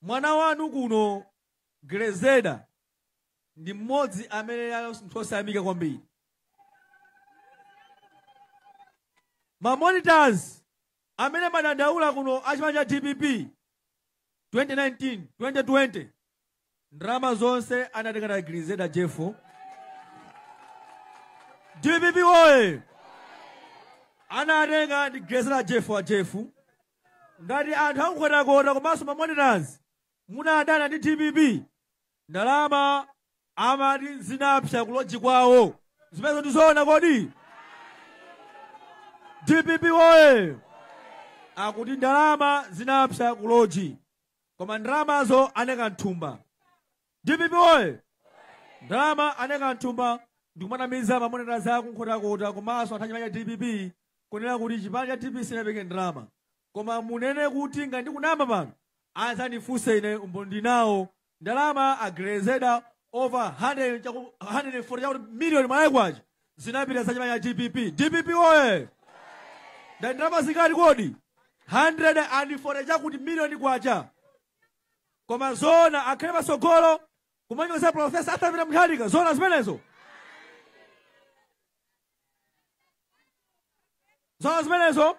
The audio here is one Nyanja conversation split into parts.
Mwana wanu kuno Grezelder ndi mmodzi amene ali munthu osayamika kwambiri. Ma monitors amene amadandaula kuno a chipani cha dpp 2019 2020 Ndalama zonse anatenga ndi Grezelder Jeffrey. DPP woye! Anatenga ndi Grezelder Jeffrey wa Jeffrey. Ngati anthu a ku Nkhotakota komanso mamonitors munadana ndi DPP ndalama amati zinapsa kuloji kwawo zimenezo ndizoona kodi dpp woye akuti ndalama zinapsa kuloji koma ndalamazo anaika mthumba dpp oye ndalama anaika mthumba ndikumanamiza mamonitors a ku Nkhotakota komanso anthu achipani cha dpp kunena kuti chipani cha dpp sinapereke ndalama koma munene kuti ngati ndikunama pano adzandifunse ine umboni ndinawo ndalama a Grezelder over 100 chaku- 140 chakuti miliyoni Malawi kwacha zinapita za chipani cha dpp dpp oye nda ndalama zingati kodi 140 chakuti miliyoni kwacha koma zona akhale patsogolo kumanyoza profesa Arthur Peter Mutharika zona zimenezo zona zimenezo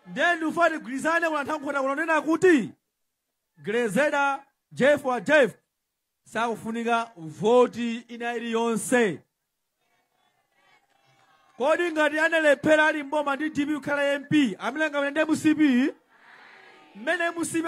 ndiye ndifuna tigwirizane kuno anthu a Nkhota kunena kuti Grezelder Jeff wa Jeff sakufunika voti ina iliyonse kodi ngati analephera ali mboma ndi dpp kukhala mp nanga mmene ndi mcp mmene mcp